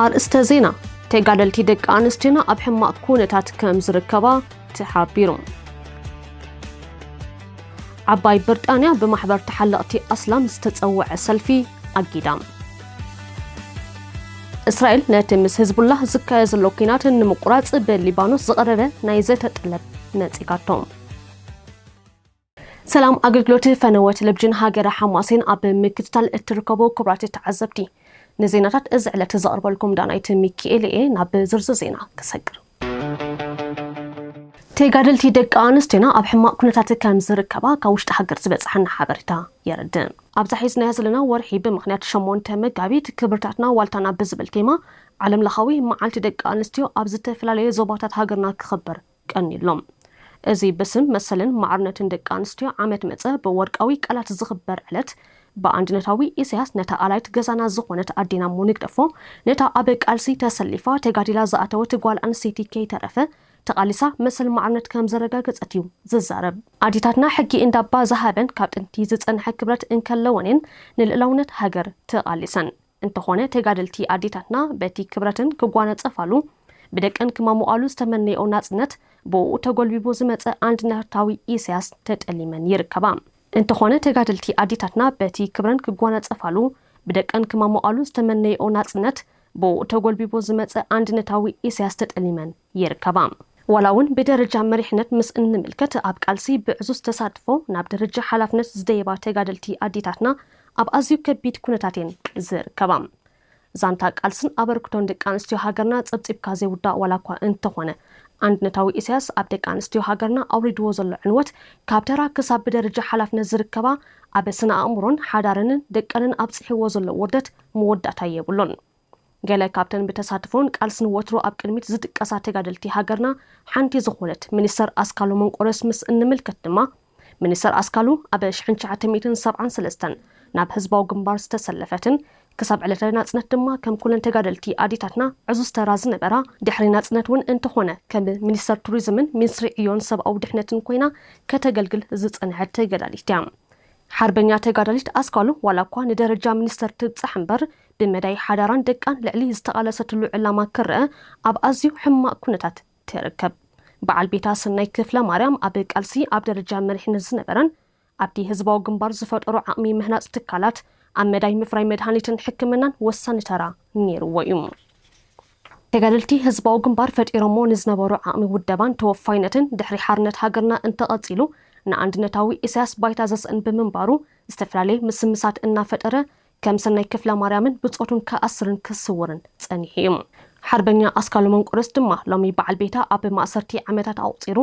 ኣርእስተ ዜና ተጋደልቲ ደቂ ኣንስትዮና ኣብ ሕማቕ ኩነታት ከም ዝርከባ ተሓቢሩ። ዓባይ ብርጣንያ ብማሕበር ተሓለቕቲ ኣስላም ዝተፀወዐ ሰልፊ ኣጊዳ። እስራኤል ነቲ ምስ ህዝቡላህ ዝካየ ዘሎ ኲናት ንምቁራጽ ብሊባኖስ ዝቐረበ ናይ ዘተ ጠለብ ነጺጋቶ። ሰላም ኣገልግሎት ፈነወ ቴሌቪዥን ሃገረ ሓማሴን ኣብ ምክትታል እትርከቡ ክቡራት ተዓዘብቲ ንዜናታት እዚ ዕለት ዘቕርበልኩም ዳናይት ሚኪኤል እየ። ናብ ዝርዝር ዜና ክሰግር ተጋደልቲ ደቂ ኣንስትዮና ኣብ ሕማቕ ኩነታት ከም ዝርከባ ካብ ውሽጢ ሃገር ዝበፀሓና ሓበሬታ የረድእ። ኣብዛ ሒዝናያ ዘለና ወርሒ ብምኽንያት ሸሞንተ መጋቢት ክብርታትና ዋልታና ብዝብል ቴማ ዓለም ለኻዊ መዓልቲ ደቂ ኣንስትዮ ኣብ ዝተፈላለየ ዞባታት ሃገርና ክኽበር ቀንዩ ኣሎ። እዚ ብስም መሰልን ማዕርነትን ደቂ ኣንስትዮ ዓመት መፀ ብወርቃዊ ቃላት ዝኽበር ዕለት ብኣንድነታዊ ኢሰያስ ነታ ኣላይት ገዛና ዝኾነት ኣዴና እሞ ንግደፎ ነታ ኣብ ቃልሲ ተሰሊፋ ተጋዲላ ዝኣተወት ጓል ኣንስተይቲ ከይተረፈ ተቃሊሳ መሰል ማዕርነት ከም ዘረጋገጸት እዩ ዝዛረብ። ኣዴታትና ሕጊ እንዳባ ዝሃበን ካብ ጥንቲ ዝጸንሐ ክብረት እንከለወን እየን ንልእላውነት ሃገር ተቃሊሰን። እንተኾነ ተጋደልቲ ኣዴታትና በቲ ክብረትን ክጓነጸፋሉ ብደቀን ክማሞቓሉ ዝተመነየኦ ናጽነት ብኡኡ ተጎልቢቡ ዝመጸ ኣንድነርታዊ ኢሳያስ ተጠሊመን ይርከባ። እንተኾነ ተጋደልቲ ኣዴታትና በቲ ክብረን ክጓነጸፋሉ ብደቀን ክማሞቓሉ ዝተመነየኦ ናጽነት ብኡኡ ተጎልቢቡ ዝመጸ ኣንድነታዊ ኢሳያስ ተጠሊመን ይርከባ። ዋላ'ውን ብደረጃ መሪሕነት ምስ እንምልከት፣ ኣብ ቃልሲ ብዕዙዝ ተሳትፎ ናብ ደረጃ ሓላፍነት ዝደየባ ተጋደልቲ ኣዴታትና ኣብ ኣዝዩ ከቢድ ኩነታት'የን ዝርከባ። ዛንታ ቃልስን ኣበርክቶን ደቂ ኣንስትዮ ሃገርና ጸብጺብካ ዘይውዳእ ዋላ'ኳ እንተኾነ፣ ኣንድነታዊ ኢሳያስ ኣብ ደቂ ኣንስትዮ ሃገርና ኣውሪድዎ ዘሎ ዕንወት፣ ካብ ተራ ክሳብ ብደረጃ ሓላፍነት ዝርከባ ኣብ ስነ-ኣእምሮን ሓዳረንን ደቀንን ኣብጺሕዎ ዘሎ ውርደት መወዳእታ የብሉን። ገለ ካብተን ብተሳትፎን ቃልስን ወትሩ ኣብ ቅድሚት ዝጥቀሳ ተጋደልቲ ሃገርና ሓንቲ ዝኾነት ሚኒስተር ኣስካሉ መንቆርዮስ ምስ እንምልከት ድማ፣ ሚኒስተር ኣስካሉ ኣብ ሽሕን ትሽዓተ ሚእትን ሰብዓን ሰለስተን ናብ ህዝባዊ ግንባር ዝተሰለፈትን ክሳብ ዕለተ ናጽነት ድማ ከም ኩለን ተጋደልቲ ኣዴታትና ዕዙዝ ተራ ዝነበራ፣ ድሕሪ ናጽነት ውን እንተኾነ ከም ሚኒስተር ቱሪዝምን ሚንስትሪ ዕዮን ሰብኣዊ ድሕነትን ኮይና ከተገልግል ዝጸንሐት ተጋዳሊት እያ። ሓርበኛ ተጋዳሊት ኣስካሉ ዋላኳ ንደረጃ ሚኒስተር ትብጻሕ እምበር ብመዳይ ሓዳራን ደቃን ልዕሊ ዝተቓለሰትሉ ዕላማ ክረኣ ኣብ ኣዝዩ ሕማቕ ኩነታት ትርከብ። በዓል ቤታ ሰናይ ክፍለማርያም ኣብ ቃልሲ ኣብ ደረጃ መሪሕነት ዝነበረን ኣብቲ ህዝባዊ ግንባር ዝፈጠሮ ዓቕሚ ምህናጽ ትካላት ኣብ መዳይ ምፍራይ መድሃኒትን ሕክምናን ወሳኒ ተራ ነይርዎ እዩ። ተጋደልቲ ህዝባዊ ግንባር ፈጢሮሞ ንዝነበሩ ዓቕሚ ውደባን ተወፋይነትን ድሕሪ ሓርነት ሃገርና እንተቐጺሉ ንኣንድነታዊ ኢሳያስ ባይታ ዘስእን ብምንባሩ ዝተፈላለየ ምስምሳት እናፈጠረ ከም ሰናይ ክፍለማርያምን ብጾቱን ክኣስርን ክስውርን ጸኒሑ እዩ። ሓርበኛ ኣስካሉ መንቁርስ ድማ ሎሚ በዓል ቤታ ኣብ ማእሰርቲ ዓመታት ኣቑጺሩ፣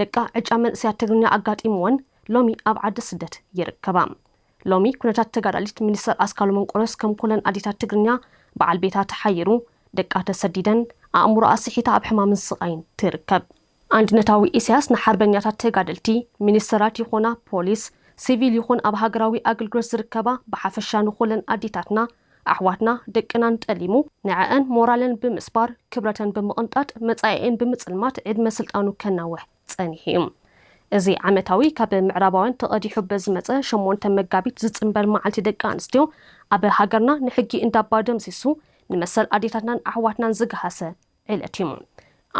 ደቃ ዕጫ መንእሰያት ትግርኛ ኣጋጢምወን ሎሚ ኣብ ዓዲ ስደት ይርከባ። ሎሚ ኩነታት ተጋዳሊት ሚኒስተር ኣስካሉ መንቁርስ ከም ኩለን ኣዴታት ትግርኛ በዓል ቤታ ተሓይሩ፣ ደቃ ተሰዲደን፣ ኣእምሮኣ ስሒታ ኣብ ሕማምን ስቓይን ትርከብ። ኣንድነታዊ ኢሳያስ ንሓርበኛታት ተጋደልቲ፣ ሚኒስተራት ይኾና ፖሊስ፣ ሲቪል ይኹን ኣብ ሃገራዊ ኣግልግሎት ዝርከባ ብሓፈሻ ንኹለን ኣዴታትና፣ ኣሕዋትና፣ ደቅናን ጠሊሙ፣ ንዐኣን ሞራለን ብምስባር፣ ክብረተን ብምቕንጣጥ፣ መጻኢኤን ብምጽልማት ዕድመ ስልጣኑ ከናውሕ ጸኒሑ እዩ። እዚ ዓመታዊ ካብ ምዕራባውያን ተቐዲሑ በዝመጸ ሸሞንተ መጋቢት ዝጽንበር መዓልቲ ደቂ ኣንስትዮ ኣብ ሃገርና ንሕጊ እንዳባ ደምሲሱ ንመሰል ኣዴታትናን ኣሕዋትናን ዝገሃሰ ዕለት እዩ።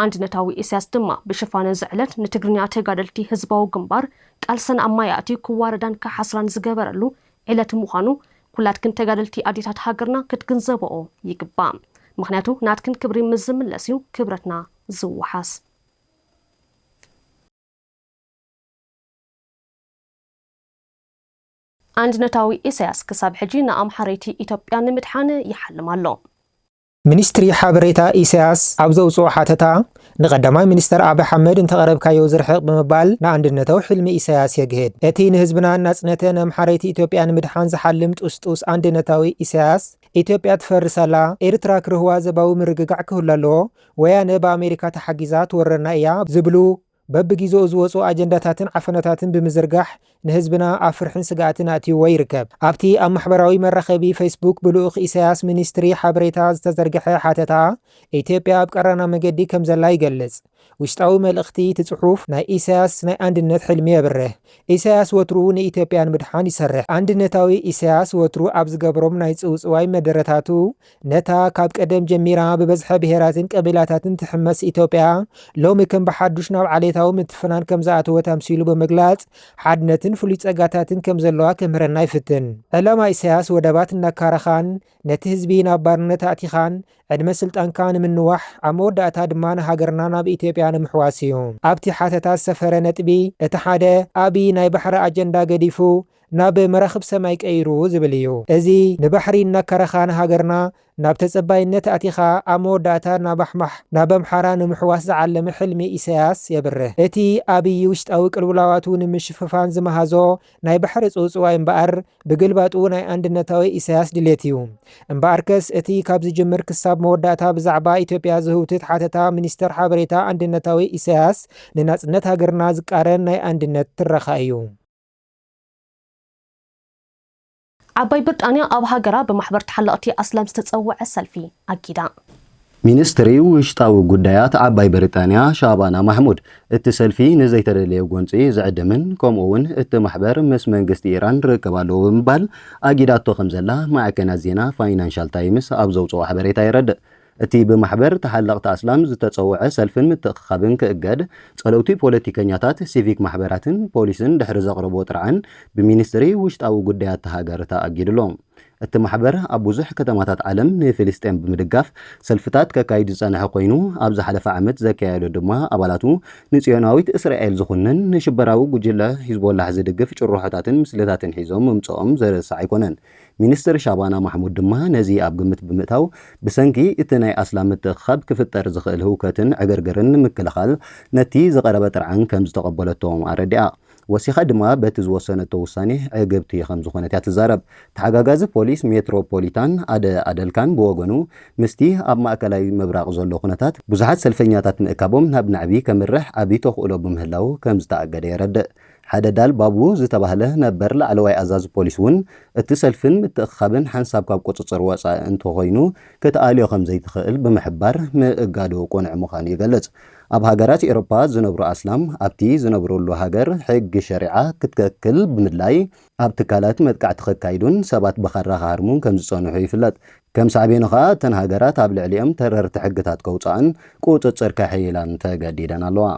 ኣንድነታዊ ኢሳያስ ድማ ብሽፋን እዚ ዕለት ንትግርኛ ተጋደልቲ ህዝባዊ ግንባር ቃልሰን ኣብ ማይ ኣእትዩ ክዋረዳን ክሓስራን ዝገበረሉ ዕለት ምዃኑ ኩላትክን ተጋደልቲ ኣዴታት ሃገርና ክትግንዘበኦ ይግባእ። ምኽንያቱ ናትክን ክብሪ ምስ ዝምለስ እዩ ክብረትና ዝወሓስ። ኣንድነታዊ ኢሳያስ ክሳብ ሕጂ ንኣምሓረይቲ ኢትዮጵያ ንምድሓን ይሓልም ኣሎ። ሚኒስትሪ ሓበሬታ ኢሳያስ ኣብ ዘውጽኦ ሓተታ፣ ንቀዳማይ ሚኒስተር ኣቢ ሓመድ እንተቐረብካዮ ዝርሕቕ ብምባል ንኣንድነተዊ ሕልሚ ኢሳያስ የግህድ። እቲ ንህዝብናን ናጽነተ ነምሓረይቲ ኢትዮጵያ ንምድሓን ዝሓልም ጡስጡስ ኣንድነታዊ ኢሳያስ፣ ኢትዮጵያ ትፈርስ ኣላ፣ ኤርትራ ክርህዋ ዘባዊ ምርግጋዕ ክህሉ ኣለዎ፣ ወያነ ብኣሜሪካ ተሓጊዛ ትወረና ኢያ ዝብሉ በብጊዘኡ ዝወጹ ኣጀንዳታትን ዓፈናታትን ብምዝርጋሕ ንህዝብና ኣብ ፍርሕን ስግኣትን ኣእትይዎ ይርከብ። ኣብቲ ኣብ ማሕበራዊ መራኸቢ ፈይስቡክ ብልኡኽ ኢሳያስ ሚኒስትሪ ሓበሬታ ዝተዘርግሐ ሓተታ፣ ኢትዮጵያ ኣብ ቀራና መገዲ ከምዘላ ይገልጽ። ውሽጣዊ መልእኽቲ እቲ ጽሑፍ ናይ ኢሳያስ ናይ ኣንድነት ሕልሚ የብርህ። ኢሳያስ ወትሩ ንኢትዮጵያ ንምድሓን ይሰርሕ። ኣንድነታዊ ኢሳያስ ወትሩ ኣብ ዝገብሮም ናይ ጽውጽዋይ መደረታቱ ነታ ካብ ቀደም ጀሚራ ብበዝሐ ብሄራትን ቀቢላታትን ትሕመስ ኢትዮጵያ ሎሚ ከም ብሓዱሽ ናብ ዓሌታዊ ምትፍናን ከም ዝኣተወት ኣምሲሉ ብምግላጽ ሓድነትን ፍሉይ ጸጋታትን ከም ዘለዋ ከምህረና ይፍትን። ዕላማ ኢሳያስ ወደባት እናካረኻን ነቲ ህዝቢ ናብ ባርነት ኣእቲኻን ዕድመ ስልጣንካ ንምንዋሕ ኣብ መወዳእታ ድማ ንሃገርና ናብ ኢትዮጵያ ንምሕዋስ እዩ። ኣብቲ ሓተታ ዝሰፈረ ነጥቢ እቲ ሓደ ኣብይ ናይ ባሕሪ ኣጀንዳ ገዲፉ ናብ መራኽብ ሰማይ ቀይሩ ዝብል እዩ። እዚ ንባሕሪ እናከረኻ ንሃገርና ናብ ተጸባይነት ኣቲኻ ኣብ መወዳእታ ናብ ኣሕማሕ ናብ ኣምሓራ ንምሕዋስ ዝዓለመ ሕልሚ ኢሳያስ የብርህ። እቲ ኣብይ ውሽጣዊ ቅልውላዋቱ ንምሽፍፋን ዝመሃዞ ናይ ባሕሪ ጽውጽዋይ እምበኣር ብግልባጡ ናይ ኣንድነታዊ ኢሳያስ ድሌት እዩ። እምበኣርከስ እቲ ካብ ዝጅምር ክሳብ መወዳእታ ብዛዕባ ኢትዮጵያ ዝህውትት ሓተታ ሚኒስተር ሓበሬታ ኣንድነታዊ ኢሳያስ ንናጽነት ሃገርና ዝቃረን ናይ ኣንድነት ትረኻ እዩ። ዓባይ ብርጣንያ ኣብ ሃገራ ብማሕበር ተሓለቕቲ ኣስላም ዝተጸውዐ ሰልፊ ኣጊዳ። ሚንስትሪ ውሽጣዊ ጉዳያት ዓባይ ብርጣንያ ሻባና ማሕሙድ፣ እቲ ሰልፊ ንዘይተደለየ ጎንጺ ዝዕድምን ከምኡ'ውን እቲ ማሕበር ምስ መንግስቲ ኢራን ርክብ ኣለዎ ብምባል ኣጊዳቶ ከምዘላ ማዕከናት ዜና ፋይናንሻል ታይምስ ኣብ ዘውጽኦ ሓበሬታ የረድእ። እቲ ብማሕበር ተሓለቕቲ ኣስላም ዝተጸውዐ ሰልፍን ምትእኽኻብን ክእገድ፣ ጸለውቲ ፖለቲከኛታት፣ ሲቪክ ማሕበራትን ፖሊስን ድሕሪ ዘቕረብዎ ጥርዓን፣ ብሚኒስትሪ ውሽጣዊ ጉዳያት እታ ሃገር ተኣጊዱ ኣሎ። እቲ ማሕበር ኣብ ብዙሕ ከተማታት ዓለም ንፍልስጤም ብምድጋፍ ሰልፍታት ከካይድ ዝጸንሐ ኮይኑ፣ ኣብ ዝሓለፈ ዓመት ዘካየዶ ድማ ኣባላቱ ንጽዮናዊት እስራኤል ዝኹንን ንሽበራዊ ጉጅለ ሂዝቦላህ ዝድግፍ ጭርሖታትን ምስልታትን ሒዞም ምምጽኦም ዝርሳዕ ኣይኮነን። ሚኒስትር ሻባና ማሕሙድ ድማ ነዚ ኣብ ግምት ብምእታው፣ ብሰንኪ እቲ ናይ ኣስላም ምትእኽኻብ ክፍጠር ዝኽእል ህውከትን ዕግርግርን ንምክልኻል ነቲ ዝቐረበ ጥርዓን ከምዝተቐበለቶ ኣረዲኣ። ወሲኻ ድማ በቲ ዝወሰነቶ ውሳኔ ዕግብቲ ከምዝኾነት እያ ትዛረብ። ተሓጋጋዚ ፖሊስ ሜትሮ ፖሊታን ኣደ ኣደልካን ብወገኑ ምስቲ ኣብ ማእከላይ ምብራቕ ዘሎ ኩነታት፣ ብዙሓት ሰልፈኛታት ምእካቦም ናብ ናዕቢ ከምርሕ ዓቢ ተኽእሎ ብምህላዉ ከምዝተኣገደ የረድእ። ሓደ ዳል ባቡ ዝተባህለ ነበር ላዕለዋይ ኣዛዚ ፖሊስ እውን እቲ ሰልፍን ምትእኽኻብን ሓንሳብ ካብ ቁፅፅር ወፃኢ እንተኾይኑ ክትኣልዮ ከምዘይትኽእል ብምሕባር ምእጋዱ ቅኑዕ ምዃኑ ይገልፅ። ኣብ ሃገራት ኤሮፓ ዝነብሩ ኣስላም ኣብቲ ዝነብርሉ ሃገር ሕጊ ሸሪዓ ክትከክል ብምድላይ ኣብ ትካላት መጥቃዕቲ ከካይዱን ሰባት ብኻራ ክሃርሙን ከምዝፀንሑ ይፍለጥ። ከም ሳዕቤኑ ከዓ እተን ሃገራት ኣብ ልዕሊኦም ተረርቲ ሕግታት ከውፅኣን ቁፅፅር ከሕይላን ተገዲደን ኣለዋ።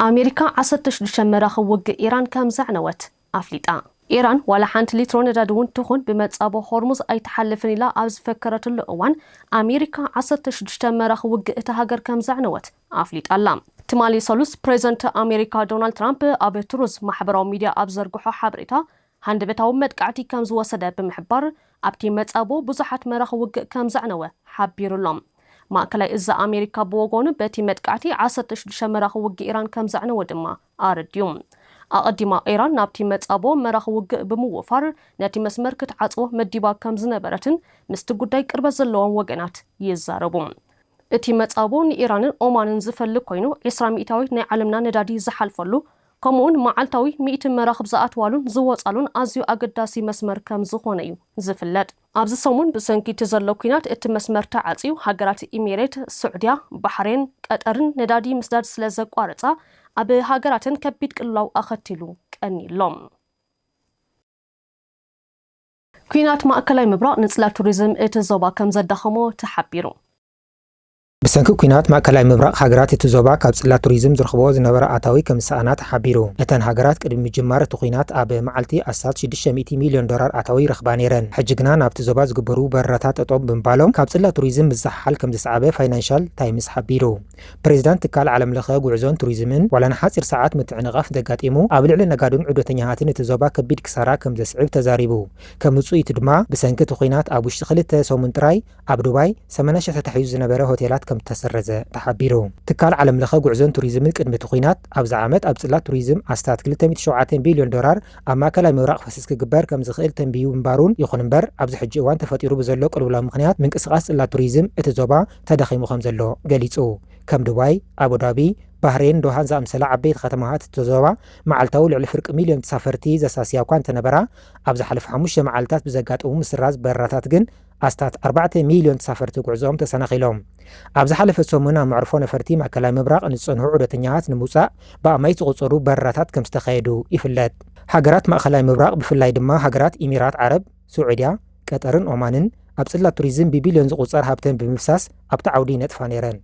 ኣሜሪካ ዓሰርተ ሽዱሽተ መራኽብ ውግእ ኢራን ከምዘዕነወት ኣፍሊጣ። ኢራን ዋላ ሓንቲ ሊትሮ ነዳዲ'ውን ትኹን ብመጻቦ ሆርሙዝ ኣይትሓልፍን ኢላ ኣብ ዝፈከረትሉ እዋን፣ ኣሜሪካ ዓሰርተ ሽዱሽተ መራኽብ ውግእ እታ ሃገር ከምዘዕነወት ኣፍሊጣ ኣላ። ትማሊ ሰሉስ ፕሬዝደንት ኣሜሪካ ዶናልድ ትራምፕ ኣብ ትሩዝ ማሕበራዊ ሚድያ ኣብ ዝዘርግሖ ሓበሬታ፣ ሃንደበታዊ መጥቃዕቲ ከም ዝወሰደ ብምሕባር፣ ኣብቲ መጻብቦ ብዙሓት መራኽብ ውግእ ከም ዘዕነወ ሓቢሩ'ሎ። ማእከላይ እዝ ኣሜሪካ ብወገኑ፣ በቲ መጥቃዕቲ ዓሰርተ ሽዱሽተ መራኽብ ውግእ ኢራን ከም ዘዕነወ ድማ ኣረዲኡ። ኣቐዲማ ኢራን ናብቲ መጻብቦ መራኽብ ውግእ ብምውፋር ነቲ መስመር ክትዓጽዎ መዲባ ከም ዝነበረትን ምስቲ ጉዳይ ቅርበት ዘለዎም ወገናት ይዛረቡ። እቲ መጻብቦ ንኢራንን ኦማንን ዝፈሊ ኰይኑ፣ ዕስራ ሚእታዊት ናይ ዓለምና ነዳዲ ዝሓልፈሉ ከምኡ'ውን መዓልታዊ ሚእቲ መራኽብ ዝኣትዋሉን ዝወጻሉን ኣዝዩ ኣገዳሲ መስመር ከም ዝኾነ እዩ ዝፍለጥ። ኣብዚ ሰሙን ብሰንኪ እቲ ዘሎ ኲናት እቲ መስመር ተዓጽዩ፣ ሃገራት ኢሚሬት፣ ስዑድያ፣ ባሕሬን፣ ቀጠርን ነዳዲ ምስዳድ ስለ ዘቋረጻ ኣብ ሃገራተን ከቢድ ቅልውላው ኣኸቲሉ ቀንዩ'ሎ። ኲናት ማእከላይ ምብራቕ ንጽላት ቱሪዝም እቲ ዞባ ከም ዘዳኸሞ ተሓቢሩ። ብሰንኪ ኲናት ማእከላይ ምብራቕ፣ ሃገራት እቲ ዞባ ካብ ጽላት ቱሪዝም ዝረኽብኦ ዝነበራ ኣታዊ ከም ዝሰኣና ተሓቢሩ። እተን ሃገራት ቅድሚ ምጅማር እቲ ኲናት ኣብ መዓልቲ ኣስታት ሽዱሽተ ሚእቲ ሚልዮን ዶላር ኣታዊ ይረኽባ ነይረን። ሕጂ ግና ናብቲ ዞባ ዝግበሩ በረራታት ጠጠው ብምባሎም ካብ ጽላት ቱሪዝም ምዝሕሓል ከም ዘስዓበ ፋይናንሻል ታይምስ ሓቢሩ። ፕሬዚዳንት ትካል ዓለምለኸ ጉዕዞን ቱሪዝምን ዋላ ንሓጺር ሰዓት ምትዕንቓፍ እንተጋጢሙ ኣብ ልዕሊ ነጋዶን ዑደተኛታትን እቲ ዞባ ከቢድ ክሳራ ከም ዘስዕብ ተዛሪቡ። ከም ውጽኢቱ ድማ ብሰንኪ እቲ ኲናት ኣብ ውሽጢ ክልተ ሰሙን ጥራይ ኣብ ዱባይ ሰመነ ሽሕ ተታሒዙ ዝነበረ ሆቴላት ከምዝተሰረዘ ተሓቢሩ። ትካል ዓለም ለኸ ጉዕዞን ቱሪዝምን ቅድሚ እቲ ኲናት ኣብዚ ዓመት ኣብ ጽላት ቱሪዝም ኣስታት ክልተ ሚእቲ ሸውዓተ ቢልዮን ዶላር ኣብ ማእከላይ ምብራቕ ክፈስስ ክግበር ከምዝኽእል ተንቢዩ ምንባሩን ይኹን እምበር ኣብዚ ሕጂ እዋን ተፈጢሩ ብዘሎ ቅልውላው ምኽንያት ምንቅስቓስ ጽላት ቱሪዝም እቲ ዞባ ተዳኺሙ ከምዘሎ ገሊጹ። ከም ዱባይ፣ ኣቡዳቢ፣ ባህሬን፣ ዶሃን ዝኣምሰላ ዓበይቲ ከተማታት እቲ ዞባ መዓልታዊ ልዕሊ ፍርቂ ሚልዮን ተሳፈርቲ ዘሳስያ እኳ እንተነበራ ኣብ ዝሓለፉ ሓሙሽተ መዓልታት ብዘጋጠሙ ምስራዝ በረራታት ግን ኣስታት ኣርባዕተ ሚልዮን ተሳፈርቲ ጉዕዞኦም ተሰናኺሎም። ኣብ ዝሓለፈ ሰሙን ኣብ መዕርፎ ነፈርቲ ማእከላይ ምብራቕ ንዝጸንሑ ዑደተኛታት ንምውጻእ ብኣማኢት ዝቑጸሩ በረራታት ከምዝተኻየዱ ይፍለጥ። ሃገራት ማእከላይ ምብራቕ ብፍላይ ድማ ሃገራት ኢሚራት ዓረብ፣ ስዑድያ፣ ቀጠርን ኦማንን ኣብ ጽላት ቱሪዝም ብቢልዮን ዝቑጸር ሃብተን ብምፍሳስ ኣብቲ ዓውዲ ይነጥፋ ነይረን።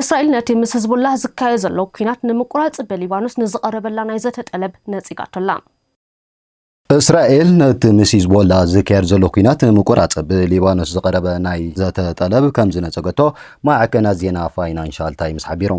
እስራኤል ነቲ ምስ ህዝቡላህ ዝካየ ዘሎ ኲናት ንምቁራጽ ብሊባኖስ ንዝቐረበላ ናይ ዘተ ጠለብ ነጺጋቶ'ላ። እስራኤል ነቲ ምስ ሂዝቦላ ዝካየድ ዘሎ ኲናት ንምቁራጽ ብሊባኖስ ዝቐረበ ናይ ዘተ ጠለብ ከም ዝነጸገቶ ማዕከናት ዜና ፋይናንሻል ታይምስ ሓቢሩ።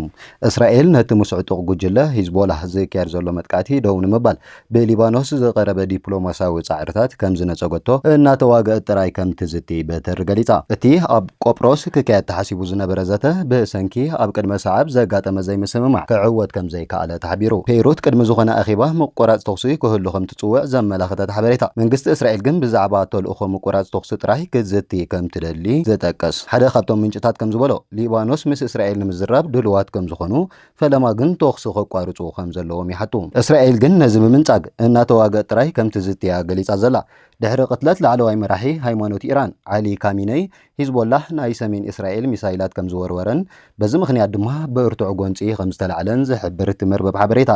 እስራኤል ነቲ ምስ ዕጡቕ ጉጅለ ሂዝቦላህ ዝካየድ ዘሎ መጥቃዕቲ ደው ንምባል ብሊባኖስ ዝቐረበ ዲፕሎማስያዊ ጻዕርታት ከም ዝነጸገቶ እናተዋግኣት ጥራይ ከም ትዝቲ በትር ገሊጻ። እቲ ኣብ ቆጵሮስ ክካየድ ተሓሲቡ ዝነበረ ዘተ ብሰንኪ ኣብ ቅድመ ሰዓብ ዘጋጠመ ዘይምስምማዕ ክዕወት ከም ዘይከኣለ ተሓቢሩ። ፔይሩት ቅድሚ ዝኾነ ኣኼባ ምቁራጽ ተኹሲ ክህሉ ከምትጽውዕ ዘመላኽት እቲ ሓበሬታ፣ መንግስቲ እስራኤል ግን ብዛዕባ ተልእኾ ምቁራጽ ተኹሲ ጥራይ ክትዝቲ ከምትደሊ ዝጠቅስ ሓደ ካብቶም ምንጭታት ከምዝበሎ፣ ሊባኖስ ምስ እስራኤል ንምዝራብ ድሉዋት ከምዝኾኑ፣ ፈለማ ግን ተኹሲ ከቋርጹ ከምዘለዎም ይሓቱ። እስራኤል ግን ነዚ ብምንጻግ፣ እናተዋግእት ጥራይ ከምትዝቲ'ያ ገሊጻ ዘላ። ድሕሪ ቅትለት ላዕለዋይ መራሒ ሃይማኖት ኢራን ዓሊ ካሚነይ፣ ሂዝቦላህ ናይ ሰሜን እስራኤል ሚሳይላት ከምዝወርወረን በዚ ምኽንያት ድማ ብርቱዕ ጎንጺ ከምዝተላዕለን ዝሕብር እቲ መርበብ ሓበሬታ፣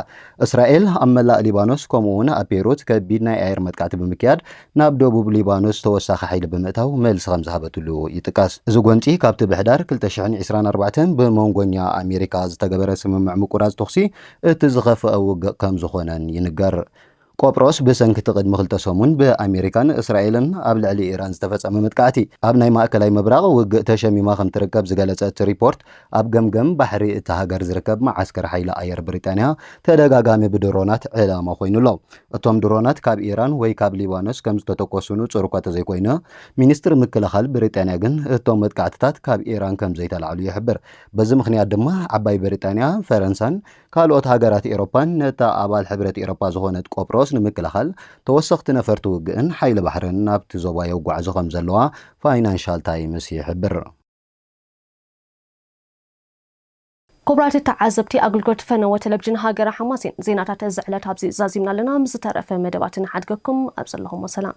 እስራኤል ኣብ መላእ ሊባኖስ ከምኡ'ውን ኣብ ቤይሩት ከቢድ ናይ ኣየር መጥቃዕቲ ብምክያድ ናብ ደቡብ ሊባኖስ ተወሳኺ ሓይሊ ብምእታው መልሲ ከምዝሃበትሉ ይጥቀስ። እዚ ጎንጺ ካብቲ ብሕዳር ክልተ ሽሕን ዕስራን ኣርባዕተን ብመንጎኛ ኣሜሪካ ዝተገበረ ስምምዕ ምቁራጽ ተኹሲ እቲ ዝኸፍኣ ውግእ ከምዝኾነን ይንገር። ቆጵሮስ ብሰንኪ እቲ ቅድሚ ክልተ ሰሙን ብኣሜሪካን እስራኤልን ኣብ ልዕሊ ኢራን ዝተፈጸመ መጥቃዕቲ፣ ኣብ ናይ ማእከላይ ምብራቕ ውግእ ተሸሚማ ከም ትርከብ ዝገለጸ እቲ ሪፖርት፣ ኣብ ገምገም ባሕሪ እታ ሃገር ዝርከብ መዓስከር ሓይሊ ኣየር ብሪጣንያ ተደጋጋሚ ብድሮናት ዒላማ ኮይኑ ኣሎ። እቶም ድሮናት ካብ ኢራን ወይ ካብ ሊባኖስ ከም ዝተተኮሱ ንጹር'ኳ ተዘይኮይነ፣ ሚኒስትሪ ምክልኻል ብሪጣንያ ግን እቶም መጥቃዕትታት ካብ ኢራን ከም ዘይተላዕሉ ይሕብር። በዚ ምኽንያት ድማ ዓባይ ብሪጣንያ፣ ፈረንሳን ካልኦት ሃገራት ኤሮፓን ነታ ኣባል ሕብረት ኤሮፓ ዝኾነት ቆጵሮስ ንምክልኻል ተወሰኽቲ ነፈርቲ ውግእን ሓይሊ ባሕርን ናብቲ ዞባ የጓዕዙ ከምዘለዋ ፋይናንሻል ታይምስ ይሕብር። ኩቡራት ተዓዘብቲ ኣግልግሎት ፈነወ ተለብጅን ሃገረ ሓማሴን ዜናታት እዚ ዕለት ኣብዚ ዛዚምና ኣለና ምስ ዝተረፈ መደባት ንሓድገኩም ኣብ ዘለኹሞ ሰላም